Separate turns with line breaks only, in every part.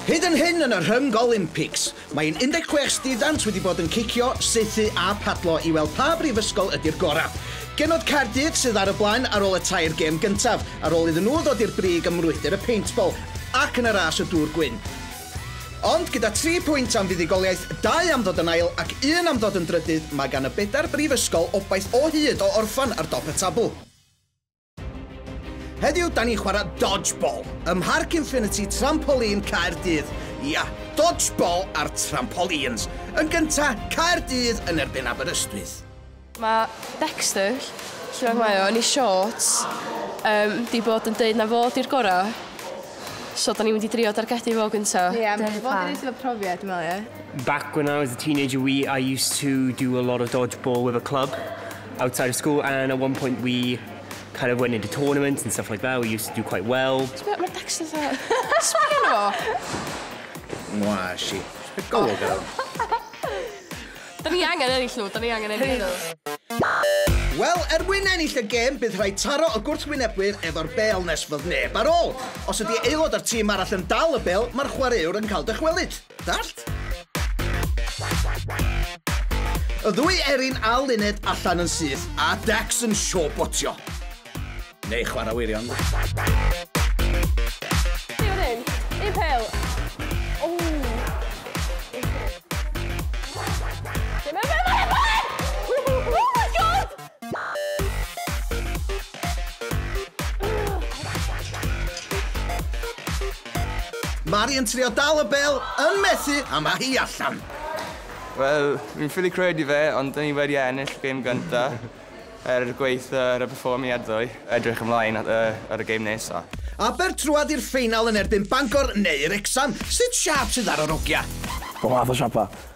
Hyd yn hyn yn y Rhyng Olympics, mae ein 16 student wedi bod yn cicio, saethu a padlo i weld pa brifysgol ydi'r gorau. Genod Caerdydd sydd ar y blaen ar ôl y tair gêm gyntaf, ar ôl iddyn nhw ddod i'r brig ym mrwydr y peintbol ac yn y ras y dŵr gwyn. Ond gyda tri pwynt am fuddugoliaeth, dau am ddod yn ail ac un am ddod yn drydydd, mae gan y bedair brifysgol obaith o hyd o orffen ar dop y tabl. Heddiw, da ni'n chwarae dodgeball ym Mharc Infinity Trampoline Caerdydd. Ia, dodgeball ar trampolines. Yn gynta, Caerdydd yn erbyn Aberystwyth. Mae Dexter, lle bynnag mae o, yn ei shorts, yym, 'di bod yn deud na fo 'di'r gora'. So, da ni'n mynd i drio dargedu fo gynta. Ie, fo 'di'r un sydd efo profiad, dwi'n meddwl, ie? Back when I was a teenager we I used to do a lot of dodgeball with a club. outside of school and at one point we kind of went into tournaments and stuff like that. We used to do quite well. Ti'n gwybod, mae Dexter dda. Sbio na fo. Mwa, si. Go, oh. girl. Da ni angen ennill nhw, da ni angen ennill nhw. Wel, er mwyn ennill y gêm, bydd rhaid taro y gwrthwynebwyr efo'r bel nes fod neb ar ôl. Os ydy aelod o'r tîm arall yn dal y bel, mae'r chwaraewr yn cael dychwelyd. Dallt? Y ddwy Erin a Luned allan yn syth a Dex yn sio botio. Neu chwarae wirion. Ti fan hyn? Un pel. O! Dim yn fel Oh my god! Mari yn trio dal y bel, yn methu, a mae hi allan. Wel, fi'n ffili credu fe, ond dyn ni wedi ennill y gêm gynta er y gweith ar y perfformiad ddoe. Edrych ymlaen at, uh, ar y gêm nesa. Aber trwad i'r ffeinal yn erbyn Bangor neu Wrecsam. Sut siap sydd ar yr ogia? Bob math o siapa.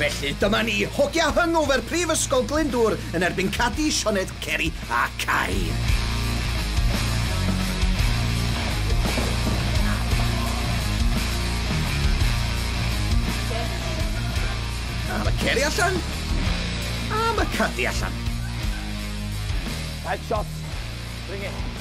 Felly, dyma ni, hogia hungover Prifysgol Glyndŵr yn erbyn Cadi, Sioned, Ceri a Cain! A mae Ceri allan. A mae Cadi allan. Headshot. Bring it.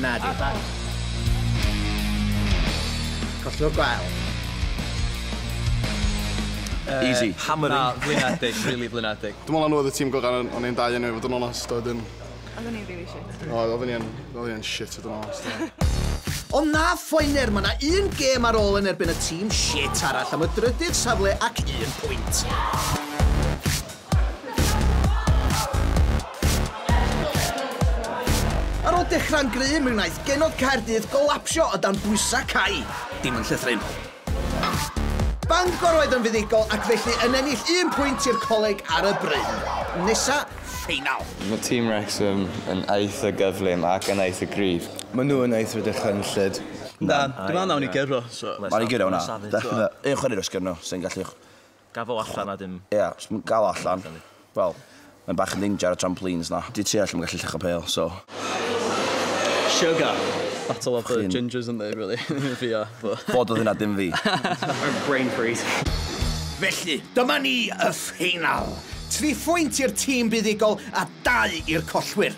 Na di. Colliwr gwael. Easy. Hammering. Na, flinedig, rili flinedig. Dwi'n meddwl na nhw oedd y tîm gorau o'n i'n dau enw i fod yn onest a wedyn... Oedden ni'n rili shit. Oedd, oedden ni yn, oedden ni yn shit fod yn onest. Ond na phoener, mae yna un gêm ar ôl yn erbyn y tîm shit arall am y drydydd safle ac un pwynt. Ar ôl dechrau'n gryf, mi wnaeth genod Caerdydd golapsio o dan bwysau cau. Dim yn llythrennol. Bangor oedd yn fuddugol ac felly yn ennill un pwynt i'r coleg ar y bryn. Nesa, ffeinal. Mae tîm Wrexham yn eitha gyflym ac yn eitha gryf. Maen nhw yn eitha dychrynllyd. Na, dwi'n meddwl wnawn ni gyrro, so... Wnawn ni gyrro, na. Definite. Un chwaraewr os gyrro, sy'n gallu... Gaf o allan a dim... Ie, os ma'n gal o allan, wel, mae'n bach yn danger ar y trampolines 'na. Dwi tua lle ma'n gallu lluchio pêl, so. Siwgr! Battle of the gingers yndi, rili. Fi a fo. Fo doedd hynna dim fi. Brain freeze. Felly, dyma ni, y ffeinal! Tri phwynt i'r tîm buddugol a dau i'r collwyr.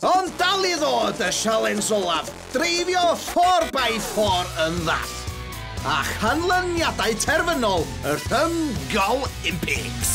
Ond dal i ddod y sialens olaf, dreifio 4x4 yn ddall. A chanlyniadau terfynol y Rhyng Golympics.